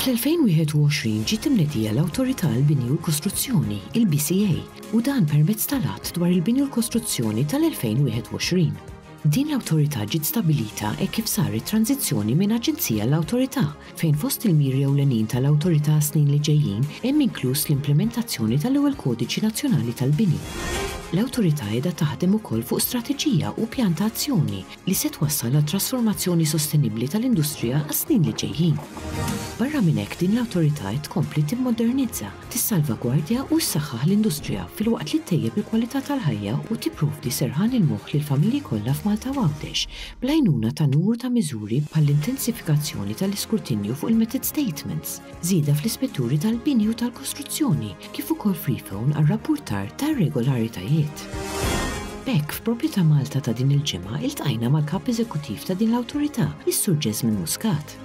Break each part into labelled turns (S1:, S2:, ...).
S1: Fl-2021 ġiet imnedija l-Awtorità għall-Bini u l-Kostruzzjoni, il-BCA, u dan permezz tal-Att dwar il-Bini u l-Kostruzzjoni tal-2021. Din l-awtorità ġiet stabbilita hekk kif saret tranżizzjoni minn aġenzija għal awtorità, fejn fost il-miri ewlenin tal-awtorità għas-snin li ġejjin hemm inkluż l-implimentazzjoni tal-ewwel kodiċi nazzjonali tal-bini. L-awtorità qiegħda taħdem ukoll fuq strateġija u pjan ta' azzjoni li se twassal għal trasformazzjoni sostenibbli tal-industrija għas-snin li ġejjin. Barra minn hekk din l-awtorità qed tkompli timmodernizza, tissalvagwardja u ssaħħaħ l-industrija filwaqt li ttejjeb il-kwalità tal-ħajja u tipprovdi serħan il-moħħ lill-familji kollha f'Malta u Għawdex bl-għajnuna ta' numru ta' miżuri bħall-intensifikazzjoni tal-iskrutinju fuq il-method statements, żieda fl-ispetturi tal-bini u tal-kostruzzjoni kif ukoll freephone għar-rappurtar tar-regolaritajiet. B'hekk, f'Proprjetà Malta ta' din il-ġimgħa iltqajna mal-Kap Eżekuttiv ta' din l-Awtorità, is-Sur Jesmond Muscat.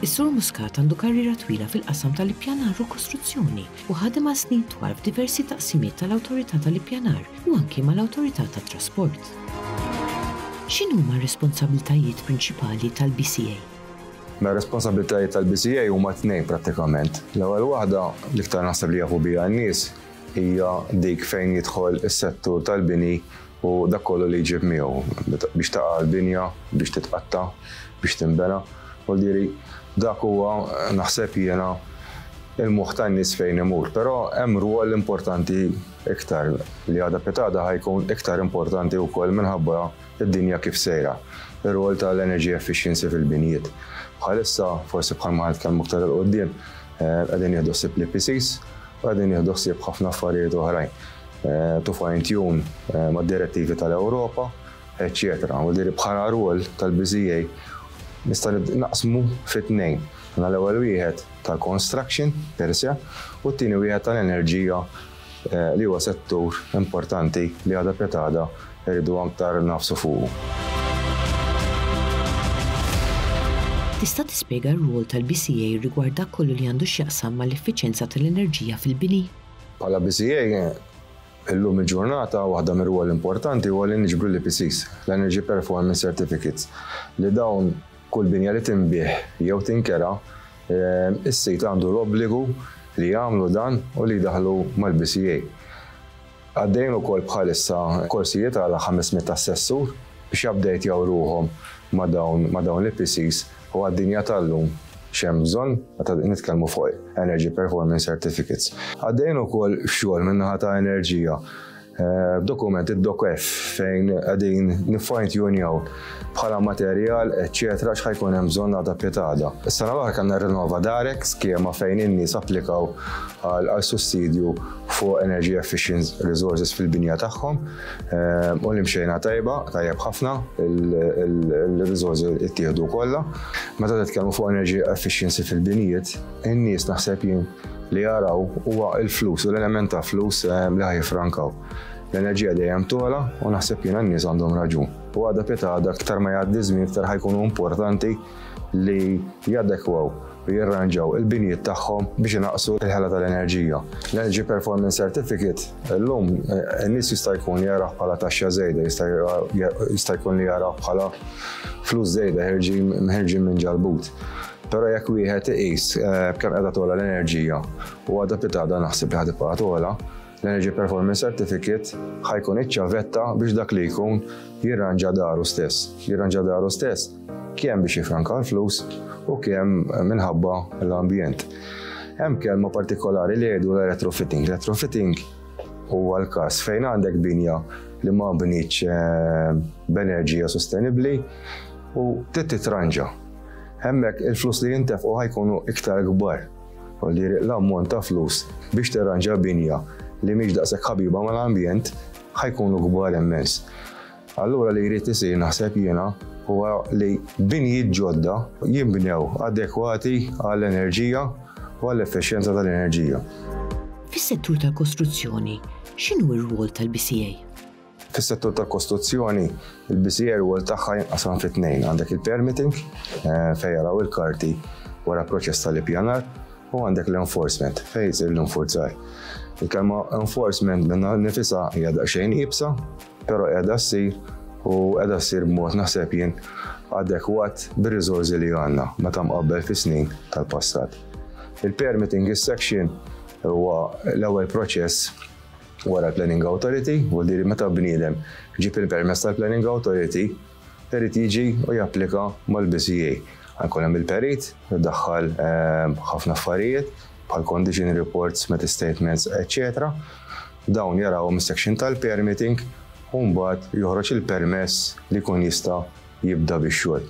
S1: Is-Sur Muscat għandu karriera twila fil-qasam tal-ippjanar u kostruzzjoni u ħadem għal snin twal f'diversi taqsimiet tal-Awtorità tal-Ippjanar u anki mal-Awtorità tat-Trasport. X'inhuma r-responsabbiltajiet prinċipali tal-BCA? Mela
S2: r-responsabbiltajiet tal-BCA huma tnejn prattikament. L-ewwel waħda, l-iktar naħseb li jafu biha n-nies, hija dik fejn jidħol is-settur tal-bini u dak kollu li jġib miegħu, biex taqa' l-binja, biex titqatta', biex tinbena. Voldieri, dak huwa, naħseb jiena, il-moħħ tan-nies fejn imur. Però hemm rwol importanti iktar, li għada pitada ħa jkun iktar importanti wkoll minħabba d-dinja kif sejra, ir-rwol tal-energy efficiency fil-binjiet. Bħalissa, forsi bħal ma ħa nitkellmu iktar 'il quddiem, qegħdin nieħdu ħsieb l-EPCs u qegħdin nieħdu ħsieb ħafna affarijiet oħrajn. eh, to fine tune eh, ma' direttivi tal-Ewropa, eccetera. U diri bħala rwol tal-BZA nista' naqsmu fit-tnejn. Għana l-ewwel wieħed tal-construction per se u t-tieni wieħed tal-enerġija eh, li huwa settur importanti li għada petada rridu aktar nafsu fuqu.
S1: Tista' tispjega r-rwol tal-BCA rigward dak kollu li għandu x'jaqsam mal-effiċjenza tal-enerġija fil-bini? Bħala BCA,
S2: illum il-ġurnata waħda mir-rwoli importanti huwa li niġbru l-EPCs, l-Energy Performance Certificates, li dawn kull binja li tinbiegħ jew tinkera, is-sid għandu l-obbligu li jagħmlu dan u li jdaħħlu mal-BCA. Għaddejjin ukoll bħalissa korsijiet għal 500 assessur biex jupdatjaw ruħhom ma' dawn l-EPCs. U għad-dinja tal-lum x'hemm bżonn meta nitkellmu fuq Energy Performance Certificates? Għaddejjin ukoll xogħol min-naħa ta' Enerġija b'dokument id-DocF fejn qegħdin nif-fine tunejaw bħala materjal eċċetera x'ħa jkun hemm bżonn għada piet għada. Is-sena l-oħra kellna Renova Direct, skema fejn in-nies applikaw għal sussidju fuq energy efficient resources fil-binja tagħhom. Eh, u li mxejna tajba, tajjeb ħafna, il-rizorsi ittieħdu kollha. Meta titkellmu fuq energy efficiency fil-binijiet, in-nies naħseb jien li jaraw huwa il-flus u l-element ta' flus eh, li ħajfrankaw. L-enerġija dejjem tola u naħseb jien n-nies għandhom raġun. U għadha pita għadha aktar ma jgħaddi żmien aktar ħajkunu importanti li jadekwaw u jirranġaw il-binjiet tagħhom biex inaqqsu l-ħela tal-enerġija. L-Energy Performance Certificate illum in-nies jista' jkun jarah bħala taxxa żejda, jista' jkun li jarah bħala flus żejda ħerġin minn ġalbut. Però jekk wieħed iqis kemm qiegħda togħla l-enerġija u għadha pitada naħseb li ħad tibqa' togħla, L-Energy Performance Certificate ħa jkun iċ-ċavetta biex dak li jkun jirranġa daru stess. Jirranġa daru stess kemm biex jifranka l-flus u kemm minħabba l-ambjent. Hemm kelma partikolari li jgħidu l-retrofitting. Retrofitting huwa l-każ fejn għandek binja li ma bniċ eh, b'enerġija sostenibbli u titranġa. Hemmhekk il-flus li jintefqu ħajkunu iktar kbar u li jriq l-ammont ta' flus biex terranġa binja li mhix daqshekk ħabiba mal-ambjent ħajkunu kbar immens. Allura li jrid isir naħseb jiena huwa li binjiet ġodda jinbnew adekwati għall-enerġija u għall-effiċjenza tal-enerġija. Fis-settur
S1: tal-kostruzzjoni, x'inhu r-rwol tal-BCA? Fis-settur
S2: tal-kostruzzjoni, il-BCA r-rwol tagħha jinqasam fi tnejn, għandek il-permitting, fejn jaraw il-karti wara proċess tal-ippjanar, u għandek l-enforcement, fejn isir l-infurzar. Il-kelma enforcement minnha nnifisha hija daqsxejn iebsa, però qiegħda ssir u qiegħda ssir b'mod naħseb jien adekwat bir-riżorsi li għandna meta mqabbel fis-snin tal-passat. Il-permitting is-section huwa l-ewwel proċess wara l-Planning Authority, vuol-dire meta bniedem ġieb il-permess tal-Planning Authority, perit jiġi u japplika mal-BCA. Jkun hemm il-perit, idaħħal ħafna affarijiet, bħal condition reports, met statements, eċċetera Dawn jarawhom is-section tal-permitting u mbagħad joħroġ il-permess li jkun jista' jibda bix-xogħol.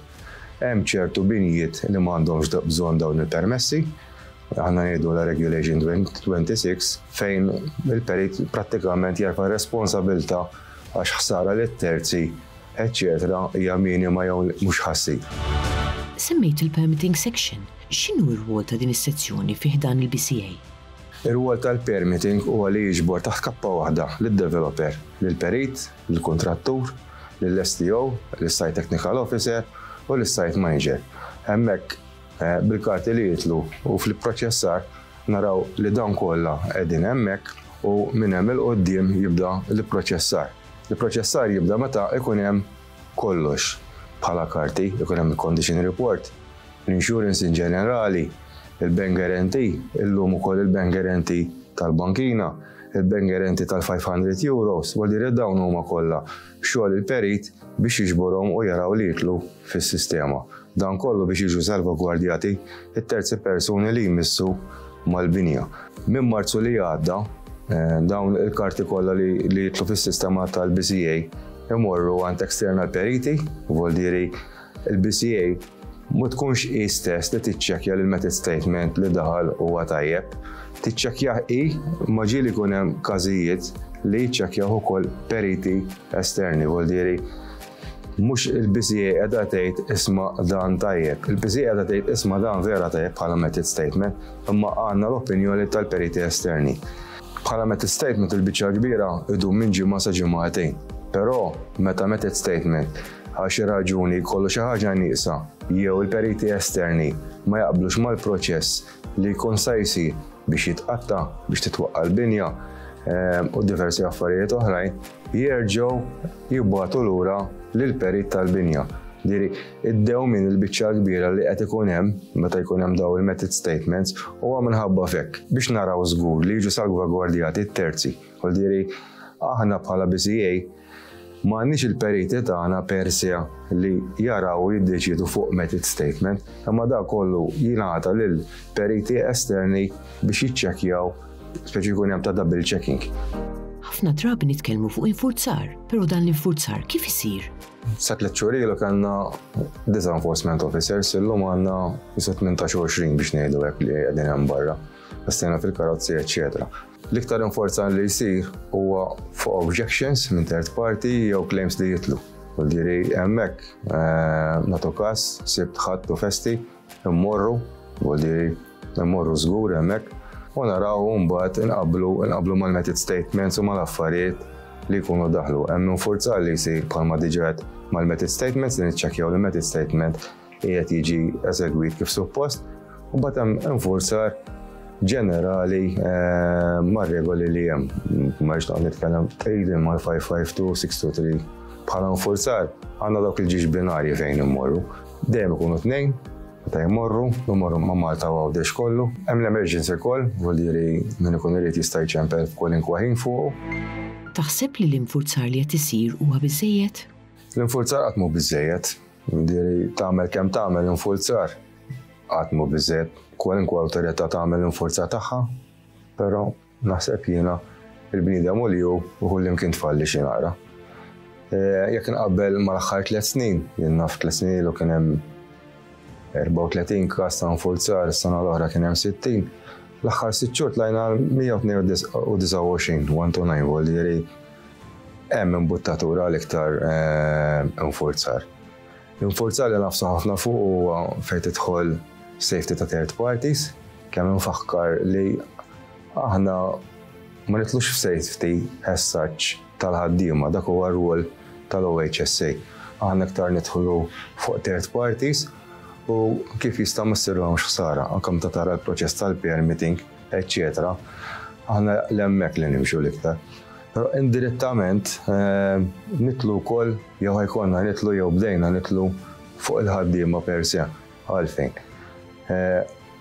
S2: Hemm ċertu binjiet li ma għandhomx bżonn dawn il-permessi, aħna ngħidu la Regulation 26, fejn il-perit prattikament jerfa' r-responsabilità għax ħsara lit-terzi, eċċetera hija minima jew mhux ħassib. Semmejt
S1: il-permitting section, x'inhu r-rwol ta' din is-sezzjoni fi ħdan il-BCA? Ir-rwol
S2: tal-permitting huwa li jiġbor taħt kappa waħda lid-developer, lill-perit, lill-kuntrattur, lill-STO, lis-Site Technical Officer u lis-Site Manager. Hemmhekk bil-karti li jidħlu u fl-ipproċessar naraw li dawn kollha qegħdin hemmhekk u minn hemm 'il quddiem jibda l-ipproċessar. L-ipproċessar jibda meta jkun hemm kollox bħala karti, ikun hemm il-Condition Report, l-insurance in ġenerali, il-bank guarantee, illum ukoll il-bank guarantee tal-bankina, il-bank guarantee tal-500 euros, u dirett dawn huma kollha xogħol il-perit biex jiġborhom u jaraw li jidħlu fis-sistema. Dan kollu biex jiġu salvagwardjati t-terzi persuni li jmissu mal-binja. Minn Marzu li għadda, eh, dawn il-karti kollha li jidħlu fis-sistema tal-BCA imorru għand external periti, u il-BCA ma tkunx hi stess li tiċċekkja li l-method statement li daħal huwa tajjeb. Tiċċekkjah hi ma ġieli jkun hemm każijiet li jiċċekkjaw ukoll periti esterni, vuol diri mhux il-BCA qiegħda tgħid isma' dan tajjeb. Il-BCA qiegħda tgħid isma' dan vera tajjeb bħala method statement, imma għandna l-opinjoni tal-periti esterni. Bħala method statement il-biċċa kbira idum minn ġimgħa sa ġimgħatejn. Però meta method statement għal xi raġuni jkollu xi ħaġa nieqsa jew il-periti esterni ma jaqblux mal-proċess li jkun sa jsir biex jitqatta' biex titwaqqa' l-binja u diversi affarijiet oħrajn, jerġgħu jibgħatu lura lill-perit tal-binja. Diri, id-dew minn il-biċċa kbira li qed ikun hemm meta jkun hemm daw il-method statements huwa minħabba fekk biex naraw żgur li jiġu salvagwardjati t-terzi. Diri, aħna bħala BCA Ma għandniex il-periti tagħna per se li jaraw u jiddeċiedu fuq method statement, imma dak kollu jingħata lil periti esterni biex jiċċekkjaw speċi jkun hemm ta' double checking. Ħafna
S1: drabi nitkellmu fuq infurzar, però dan l-infurzar kif isir? Sa tliet xhur
S2: ilu kellna disa' enforcement officers illum għandna jisa' 18 biex ngħidu hekk li qegħdin hemm barra. Għastina fil-karozzi, eċċetera. L-iktar inforzar li jsir huwa fuq objections minn third party jew claims li jitlu. Ġiri, hemmhekk eh, nagħtu każ sibt ħadd u festi, immorru, ġiri, immorru żgur hemmhekk u naraw mbagħad inqablu inqablu mal-method statements u mal-affarijiet li jkunu daħlu. Hemm infurzar li jsir bħalma diġet mal-method statements li niċċekkjaw li method statement qiegħed jiġi eżegwit kif suppost, u mbagħad hemm infurzar ġenerali eh, ma' regoli li hemm. Ma rridx noqgħod nitkellem tqegħidin mal-552, 623 bħala infurzar għandna dawk il-ġiex binarji fejn immorru. Dejjem ikunu tnejn, ta' jmorru, jmorru ma' Malta u għawdex kollu. Hemm l-emerġenza koll, vuol diri minn ikun irid jista' jċempel kwalinkwa ħin fuqu. Taħseb
S1: li l-infurzar li qed isir huwa biżejjed? L-infurzar qatt
S2: mhu biżejjed. Diri tagħmel kemm tagħmel infurzar qatt mhu biżżejjed. Kwalunkwe awtorità tagħmel l-infurzar tagħha, però naħseb jiena il-bniedem u li hu u kullimkien tfalli xi naqra. Eh, jekk nqabbel mal-aħħar tliet snin, jien naf tliet snin ilu kien hemm 34 każ ta' nfurzar, sena l-oħra kien hemm 60, l-aħħar sitt xhur tlajna 129 one to nine volieri Hemm imbuttatura għal iktar infurzar. L-infurzar li nafsu ħafna fuq huwa fejn tidħol safety ta' third parties, kemm infakkar li aħna ma nitlux f'safety as such tal-ħaddiema, dak huwa r-rwol tal-OHSA. Aħna iktar nidħlu fuq third parties u kif jista' ma ssirlhomx ħsara, anke meta tara l-proċess tal-permitting, eċċetera, aħna 'l hemmhekk li nimxu l-iktar. Però indirettament nidħlu wkoll jew ħajkonna nidħlu jew bdejna nidħlu fuq il-ħaddiema per se. Għalfejn?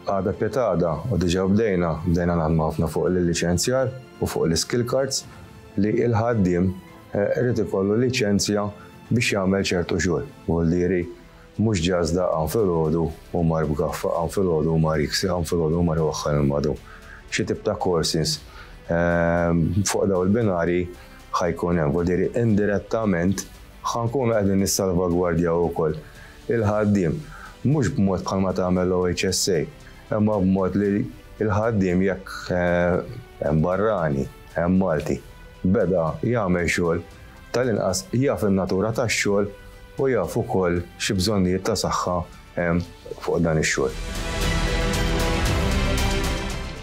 S2: Għada pietada u diġà bdejna, bdejna naħdmu ħafna fuq l-liċenzjar u fuq l-skill cards li l-ħaddiem irid ikollu liċenzja biex jagħmel ċertu xogħol. Huwa l-diri Mhux ġazz daqq hawn filgħodu u mar b'gaffa, hawn filgħodu u mar jiksi, hawn filgħodu u mar iwaħħal il-madu. Xi tip ta' courses fuq dawn il-binarji ħa jkun hemm. Ġifieri indirettament ħa nkunu qegħdin nissalvagwardjaw ukoll il-ħaddiem. Mhux b'mod bħalma tagħmel l-OHSA, imma b'mod li l-ħaddiem jekk hemm barrani, hemm Malti, beda jagħmel xogħol, Tal-inqas jaf in-natura tax-xogħol u jaf ukoll xi bżonnijiet ta' saħħa hemm fuq dan ix-xogħol.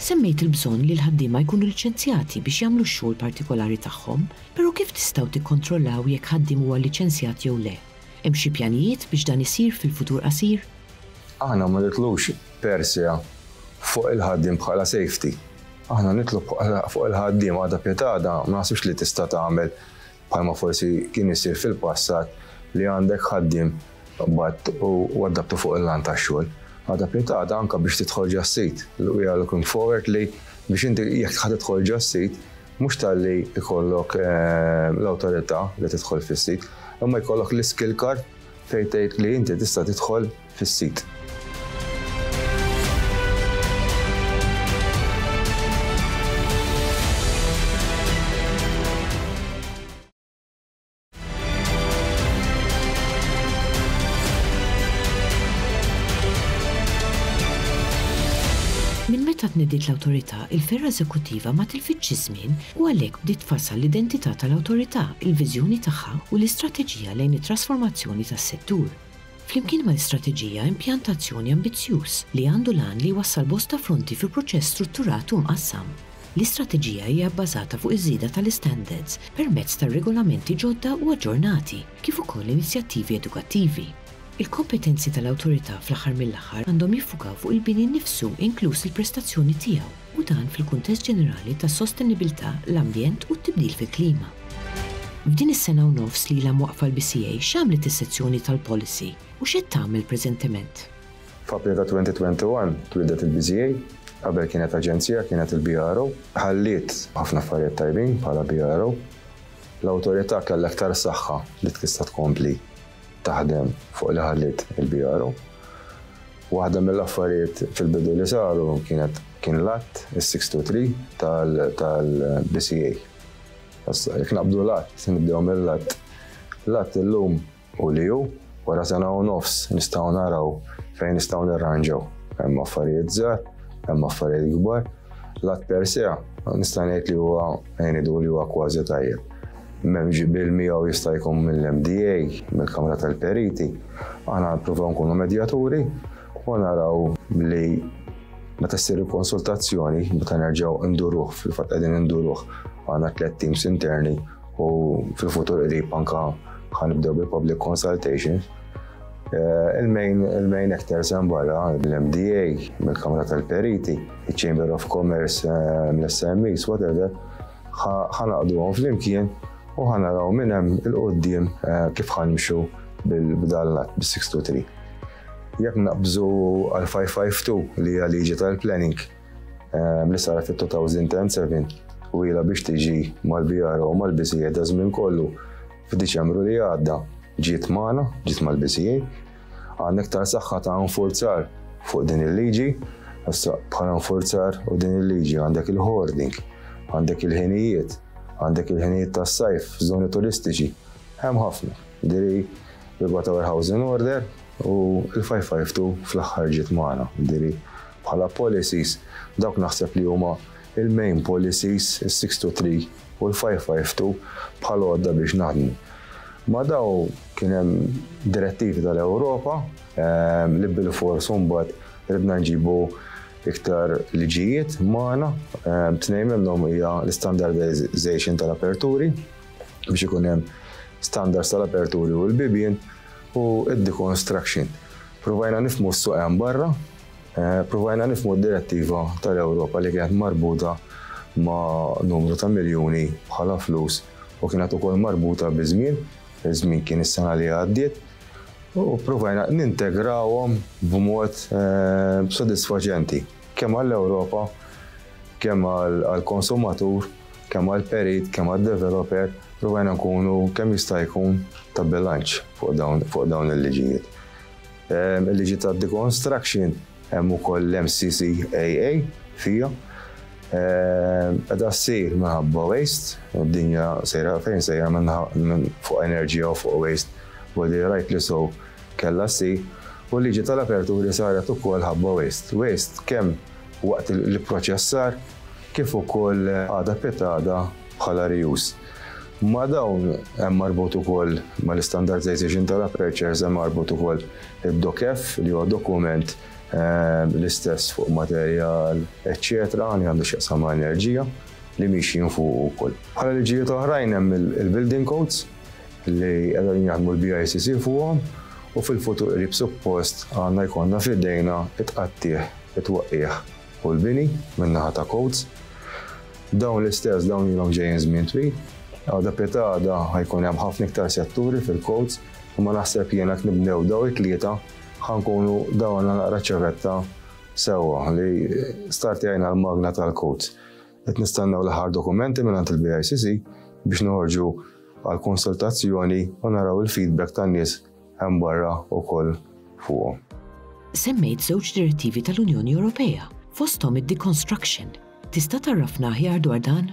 S1: Semmejt il-bżonn li l-ħaddiema jkunu liċenzjati biex jagħmlu x-xogħol partikolari tagħhom, però kif tistgħu tikkontrollaw jekk ħaddiem huwa liċenzjat jew le? Hemm xi pjanijiet biex dan isir fil-futur qasir? Aħna ma
S2: nitlux per se fuq il-ħaddiem bħala safety. Aħna nitlu fuq il-ħaddiem għadha piet għadha ma naħsibx li tista' tagħmel bħalma forsi kien isir fil-passat li għandek ħaddiem bat u waddabtu fuq il-lan tax-xogħol. Għadha piet għadha anke biex tidħol ġas-sit. We are looking forward li biex inti jekk ħa tidħol ġas-sit Mhux talli jkollok l-awtorità li tidħol fis-sit, imma jkollok l-iskill card fejn tgħid li inti tista' tidħol fis-sit.
S1: Minn meta tnediet l-Awtorità, il-fergħa eżekuttiva ma tilfitx iż-żmien u għalhekk bdiet tfassal l-identità tal-Awtorità, il-viżjoni tagħha u l-istrateġija lejn it-trasformazzjoni tas-settur. flimkien mal-istrateġija impjantazzjoni ambizzjuż li għandu l-għan li jwassal bosta fronti fi proċess strutturat u mqassam. L-istrateġija hija bbażata fuq iż-żieda tal-istandards permezz ta' regolamenti ġodda u aġġornati, kif ukoll inizjattivi edukattivi. Il-kompetenzi tal-Awtorità fl-aħħar mill-aħħar għandhom jiffukaw fuq il-bini nnifsu inkluż il-prestazzjoni tiegħu. u dan fil-kuntest ġenerali tas-sostenibilità, l-ambjent u t-tibdil fil-klima. F'din is-sena u nofs li ilha mwaqqfa l-BCA, x'għamlet is-sezzjoni tal-Policy u x'qed tagħmel preżentement? F'April
S2: ta' 2021 twieldet il-BCA, qabel kienet aġenzija, kienet il-BRO. Ħalliet ħafna affarijiet tajbin bħala BRO. L-Awtorità kellha iktar saħħa li tista' tkompli taħdem fuq li ħalliet il-BRU. Waħda mill-affarijiet fil-bidu li saru kienet kien l-att, is-623 tal-BCA. Issa, jekk naqbdu l-att, nibdew mill-att. L-att illum u li hu, wara sena u nofs nistgħu naraw fejn nistgħu nirranġaw. Hemm affarijiet żgħar, hemm affarijiet kbar. L-att per se, nista' ngħid li huwa ngħidu li huwa kważi tajjeb. M'hemm ġiebel miegħu jista' jkun mill-MDA, mill-Kamra tal-Periti. Aħna nippruvaw nkunu medjaturi u naraw li meta ssir il-konsultazzjoni, meta nerġgħu induruh, fil-fatt qegħdin induruh għandna tliet teams interni u fil-futur qrib anka ħanibdew bil-public consultations. Eh, il-main actors hemm barra l-MDA, mill-Kamra tal-Periti, il-Chamber of Commerce, eh, l-SMEs, whatever, Ħa naqduhom flimkien u ħa naraw minn hemm il-qudiem eh, kif ħa nimxu bil-bdallat bis-623. Jekk naqbżu għal 552 li hija liġi tal-planning eh, li saret fit-2007 u ila biex tiġi mal-BR u mal-BCA da żmien kollu f'Diċembru li għadda ġiet magħna, ġiet mal-BCA, Għandna iktar saħħa ta' infurzar fuq din il-liġi, issa bħala infurzar u din il-liġi għandek il-hoarding, għandek il-ħinijiet, għandek il-ħinijiet tas-sajf f'żoni turistiċi. Hemm ħafna. Diri rigward ta' warehousing order u l-552 fl-aħħar ġiet magħna. Diri bħala policies dawk naħseb li huma il-main policies, is-six to three u l-five five two bħal għodda biex naħdmu. Ma daw kien hemm direttivi tal-Ewropa ehm, li bil-fors mbagħad ridna nġibu iktar liġijiet magħna ehm, tnejn minnhom hija l-standardization tal-aperturi biex ikun hemm standards tal-aperturi u l-bibien u id-deconstruction. Provajna nifmu s-suq hemm barra Eh, provajna nifmu d-direttiva tal-Ewropa li kienet marbuta ma' numru ta' miljuni bħala flus u kienet ukoll marbuta bi żmien, żmien kien is-sena li għaddiet, u provajna nintegrawhom b'mod eh, b'sodisfaċenti kemm għall-Ewropa, kemm għall-konsumatur, kemm għall-perit, kemm għad-developer, provajna nkunu kemm jista' jkun ta' bilanċ fuq dawn il-liġijiet. Il-liġi tad-deconstruction hemm ukoll l-MCCAA fija. Qeda ssir minħabba waste, id-dinja sejra fejn sejra minn fuq enerġija u fuq waste, body right li so kellha ssir, u l-liġi tal-aperturi saret ukoll ħabba waste. Waste kemm waqt l-ipproċessar kif ukoll għada pitada bħala re-use. Ma' dawn hemm marbut ukoll, mal-istandardization tal-apertures hemm marbut ukoll id-DOCF li huwa dokument l-istess fuq materjal eċċetera li għandu x'jaqsam ma' enerġija li miexjin fuqu wkoll. Bħala liġijiet oħrajn hemm il-building codes li qed qegħdin jaħdmu l-BICC fuqhom u fil-futur qrib suppost għandna jkollna f'idejna t-tqattigħ, it-twaqqigħ, u l-bini min-naħa ta' Coats. Dawn l-istess dawn ilhom ġejjin żmien twil. Għada pieta għada ħajkun hemm ħafna iktar setturi fil-Coats imma naħseb jien jekk nibdew dawn it-tlieta ħa nkunu dawalna naqra ċ-ċavetta sewwa li startjajna l-magna tal-Coats. Qed nistennew l-aħħar dokumenti mingħand il-BICC biex noħorġu għall-konsultazzjoni u naraw il-feedback tan-nies hemm barra wkoll fuqhom. Semmejt
S1: żewġ direttivi tal-Unjoni Ewropea, fosthom id-deconstruction. Tista' tgħarrafna aħjar dwar dan?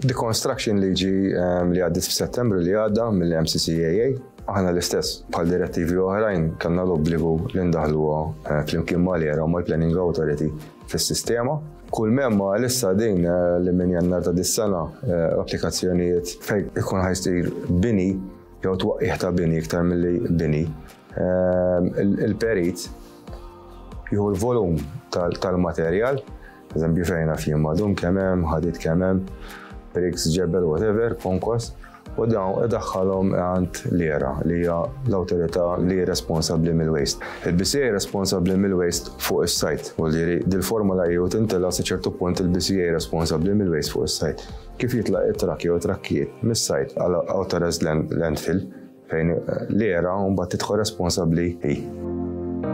S1: Deconstruction
S2: liġi ehm, li għaddit f'Settembru li għadda mill-MCCAA aħna l-istess bħal direttivi oħrajn kellna l-obbligu li ndaħluha eh, flimkien mal-era u mal-Planning Authority fis-sistema. Kull memma lissa din eh, li minn jannar ta' dis-sena eh, applikazzjonijiet fejn ikun ħajsir bini jew twaqqih ta' bini iktar milli bini, ehm, il-perit jieħu l-volum tal-materjal, eżempju fejna fjem madum kemem, ħadit kemem, riks ġebel, whatever, konkos, u dawn idaħħalhom għand l-era li hija l-awtorità li responsabbli mill-waste. Il-BCA responsabbli mill-waste fuq is-sajt, u li dil-formula jew tintela sa ċertu punt il-BCA responsabbli mill-waste fuq is-sajt. Kif jitlaq it-trakki jew trakkijiet mis-sajt għal authorized landfill fejn l-era mbagħad tidħol responsabbli hi.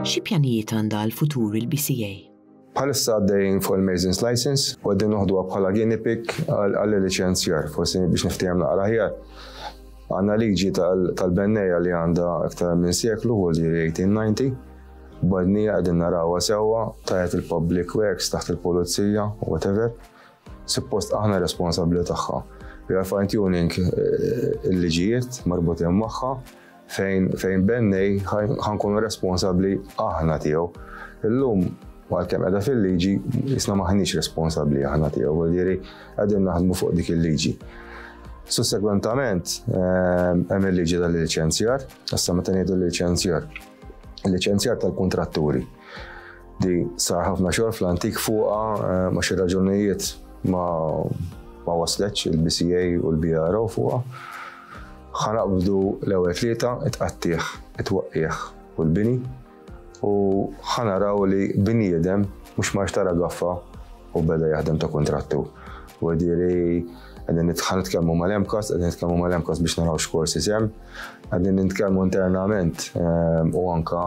S2: Xi
S1: pjanijiet għandha għal futur il-BCA? Bħalissa
S2: għaddejn fuq il-Mason's License u għaddejn noħdu bħala guinea pig għal-licenzjar, forsi biex niftijem naqra ħjar. Għanna liġi tal-benneja li għanda iktar minn seklu u li 1890 Badnija għedin narawa sewa, tajet il-public works taħt il-polizija, whatever. Suppost aħna responsabbli tagħha. We are fine tuning eh, il-liġijiet marbutin magħha fejn fejn bennej ħankunu responsabbli aħna tiegħu. Illum għalkemm qiegħda fil-liġi isna maħniex responsabbli aħna tiegħu, jiġifieri qegħdin naħdmu fuq dik il-liġi. Sussegwentament eh, hemm il-liġi tal-liċenzjar, issa meta ngħidu l-liċenzjar. Il-liċenzjar tal-kuntratturi. Di sar ħafna xogħol fl-antik fuqha eh, ma xi raġunijiet ma ma wasletx il-BCA u l-BRO fuqha. Ħanaqbdu l-ewwel tlieta itqattih, itwaqqih u l-bini u ħanaraw li bniedem mhux ma xtara gaffa u beda jaħdem ta' kontrattu. U Għadin nitħan nitkellmu mal-emkos, għadin nitkellmu mal-emkos biex naraw x'korsi sem. Għadin nitkellmu internament ehm, u anka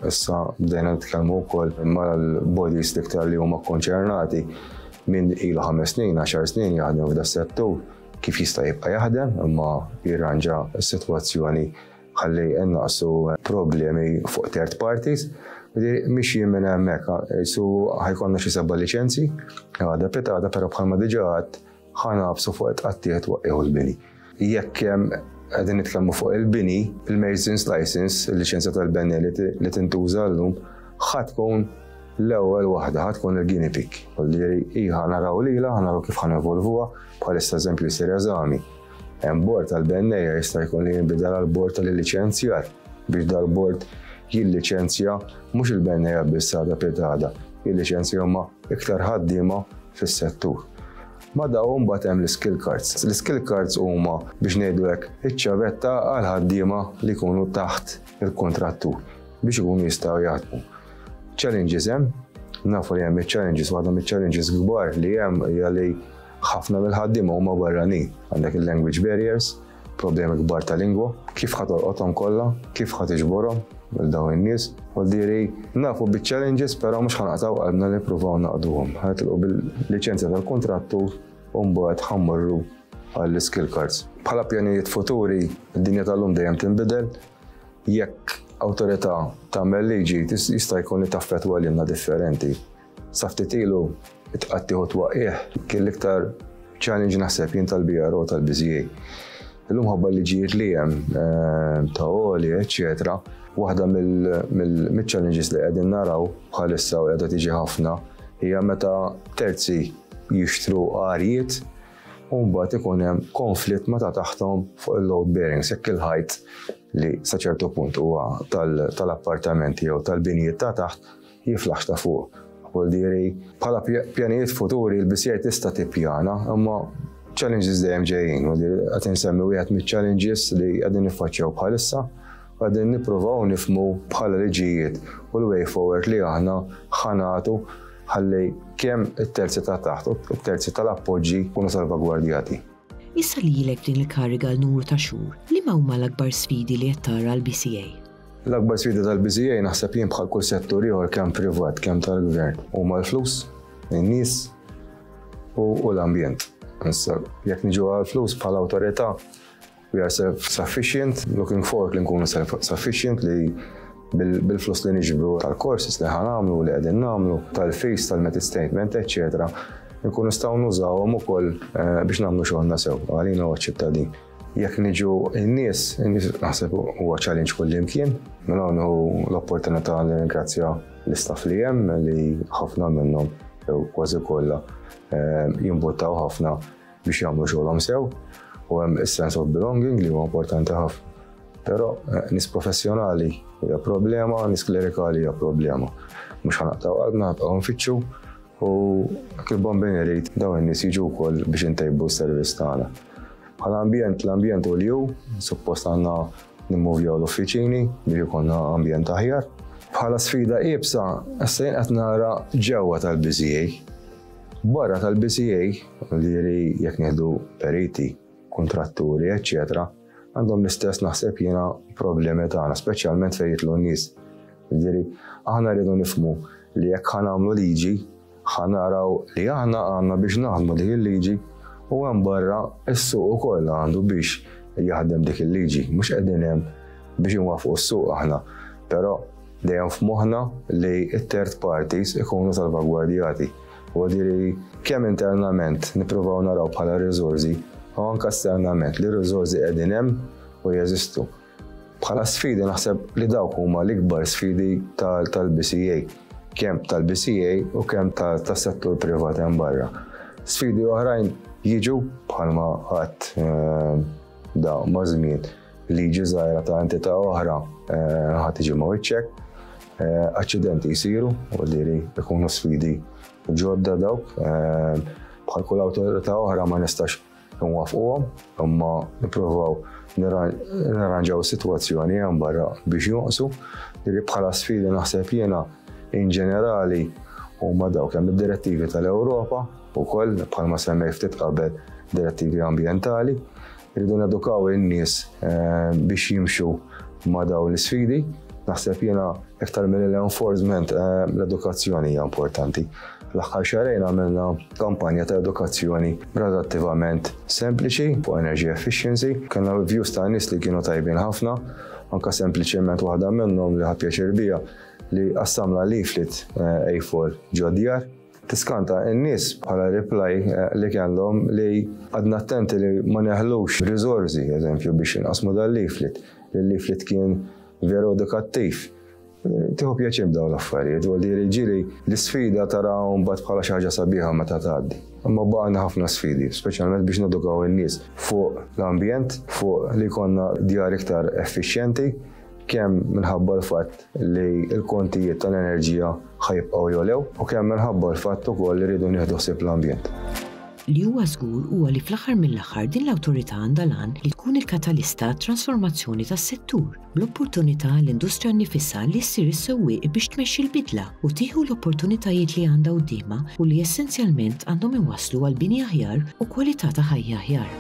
S2: issa bdejna nitkellmu wkoll mal-bodies diktar li huma konċernati minn ilu ħames snin, għaxar snin jaħdem f'da settur kif jista' jibqa' jaħdem imma jirranġa s-sitwazzjoni ħalli innaqsu problemi fuq third parties. Li mixjin minn hemmhekk, su ħajkonna xi seba' liċenzi, għada pitata, però bħalma diġà għad ħanabsu fuq it-qattieħ twaqqieħu l-bini. Jekk qegħdin nitkellmu fuq il-bini, il-Masons License, il-liċenzja tal-benni li tintuża llum, ħadd tkun l-ewwel waħda ħadd tkun il-guinea pig. Ġifieri hi ħanaraw lilha, ħanaraw kif ħanevolvuha, bħalissa eżempju jsir eżami. Bord tal-benneja jista' jkun li jinbidel għal bord tal-liċenzjar biex dal-bord jilliċenzja mhux il-benneja biss għadha pjetada, jilliċenzja huma iktar ħaddiema fis-settur. Ma daw mbagħad hemm l-skill cards. L-skill cards huma biex ngħidu hekk iċ-ċavetta għal ħaddiema li jkunu taħt il-kontrattur biex ikunu jistgħu jaħdmu. Challenges hemm, nafu li hemm iċ-challenges, waħda miċ-challenges kbar li hemm hija li Ħafna mill-ħaddiema huma barranin, għandek il-language barriers, problemi kbar ta' lingwa, kif ħa tolqothom kollha, kif ħa tiġborhom minn dawn in-nies, u diri nafu biċ-challenges però mhux ħanaqtaw qalbna li nippruvaw naqduhom. Ħatilqu bil-liċenzja tal-kuntrattu u mbagħad ħammorru għall-skill cards. Bħala pjanijiet futuri, id-dinja tal-lum dejjem tinbidel, jekk awtorità tagħmel liġi jista' jkun li taffetwa lilna differenti. Sa ftit ilu it-tqattigħ u t-twaqqigħ kien l-iktar challenge naħseb jien tal-BRO tal-BZA. Illum ħabba liġijiet li hemm eh, ta' oli, eċċetera, waħda mill-challenges li qegħdin naraw bħalissa u qiegħda tiġi ħafna hija meta terzi jixtru għarjiet u mbagħad ikun hemm konflitt meta taħtom fuq il-load bearing, sekk il-ħajt li sa ċertu punt huwa tal-appartamenti jew tal-binijiet ta' taħt Jiflaħx ta' fuq, Apple Diri. Bħala pjanijiet futuri, il-BCI tista' tippjana, imma challenges dejjem ġejjin, u qed insemmi wieħed miċ-challenges li qegħdin niffaċċjaw bħalissa għadin nippruvaw nifmu bħala liġijiet u l-way forward li aħna ħanatu ħalli kemm it-terzi ta' taħt u t-terzi tal-appoġġi kunu salvagwardjati. Issa li
S1: ilek f'din il-kariga għal numru ta' xhur, liema huma l-akbar sfidi li qed tara għall-BCA? L-akbar sfida
S2: tal-BCA naħseb jien bħal kull settur ieħor kemm privat kemm tal-gvern huma l-flus, in-nies u l-ambjent. Issa jekk niġu għall-flus bħala awtorità we are self-sufficient, looking forward li nkunu self-sufficient li bil-flus li niġbru tal-courses li ħanamlu, li qegħdin nagħmlu, tal-fees, tal-metit statement, eċċetera, nkunu nistgħu nużawhom ukoll eh, biex nagħmlu xogħolna sew għalina u ċittadin. Jekk niġu n-nies, n-nies naħseb huwa challenge kullimkien, minn hawn l-opportunità li ringrazzja l-istaff li hemm li ħafna minnhom jew kważi kollha eh, jimbuttaw ħafna biex jagħmlu xogħolhom sew u hemm is-sense of belonging li huwa importanti ħafna. Però eh, nis professjonali hija problema, nis klerikali hija problema. Mhux ħanaqtaw għadna nibqgħu nfittxu u kif bombin irid dawn in-nies jiġu wkoll biex intejbu s-servizz tagħna. Bħala ambjent, l-ambjent u l-ju, suppost għandna nimmuvjaw l-uffiċini biex ikonna ambjent aħjar. Bħala sfida iebsa, s-sejn qed nara ġewwa tal-BCA. Barra tal-BCA Modieri jekk nieħdu periti, kuntratturi, eċċetera, għandhom l-istess naħseb jiena problemi tagħna, speċjalment fejn jitlu n-nies. Modieri, aħna rridu nifmu li jekk ħanamlu liġi, ħanaraw li aħna għandna biex naħdmu dik il-liġi u hemm barra s-suq ukoll għandu biex jaħdem dik il-liġi. Mhux qegħdin hemm biex inwafqu s-suq aħna. Però dejjem f'moħħna li t-third parties ikunu salvagwardjati. Huwa diri kemm internament nippruvaw naraw bħala riżorsi u anke esternament li r-riżorsi qegħdin hemm u jeżistu. Bħala sfidi naħseb li dawk huma l-ikbar sfidi tal-BCA, kemm tal-BCA u kemm tas-settur privat hemm barra. Sfidi oħrajn jiġu bħalma qatt eh, da ma' żmien. Liġi żgħira ta' entità oħra ħa tiġi ma' wiċċek. Aċċidenti jsiru u li jkunu sfidi ġodda dawk. Bħal kull awtorità oħra ma nistax nwafquhom, imma nippruvaw nirranġaw is-sitwazzjoni hemm barra biex jonqsu li bħala sfidi naħseb jiena in ġenerali huma dawk hemm id-direttivi tal-Ewropa wkoll bħalma semmej ftit qabel direttivi ambjentali Irridu nedukaw in-nies biex jimxu ma' dawn l-isfidi. Naħseb jiena iktar mill l-enforcement l-edukazzjoni hija importanti. L-aħħar xarejn għamilna kampanja ta' edukazzjoni relattivament sempliċi fuq energy efficiency. Kellna views ta' nies li kienu tajbin ħafna, anka sempliċement waħda minnhom li ħa pjaċir bija li qassamlha leaflet A4 ġod-djar. Tiskanta n-nies bħala reply li kellhom li qgħadna attenti li ma neħlux riżorsi, eżempju, biex inqassmu dal-leaflet, li l-leaflet kien veru edukattiv. Tieħu pjaċir b'dawn l-affarijiet, u għaldi ġieli l-isfida tara mbagħad bħala xi ħaġa sabiħa meta tgħaddi. Imma baqgħna ħafna sfidi, speċjalment biex nedukaw in-nies fuq l-ambjent, fuq li jkollna djar iktar effiċjenti, kemm minħabba l-fatt li l-kontijiet tal-enerġija ħajbqgħu jolew u kemm minħabba l-fatt ukoll li rridu nieħdu ħsieb l-ambjent. Li huwa
S1: żgur huwa li fl-aħħar mill-aħħar din l-Awtorità għandha l-għan li tkun il-katalista għat-transformazzjoni tas-settur, bl-opportunità għall-industrija nnifisha li ssir is-sewwieq biex tmexxi l-bidla u tieħu l-opportunitajiet li għandha quddiemha u li essenzjalment għandhom iwasslu għal bini aħjar u kwalità ta' ħajja aħjar.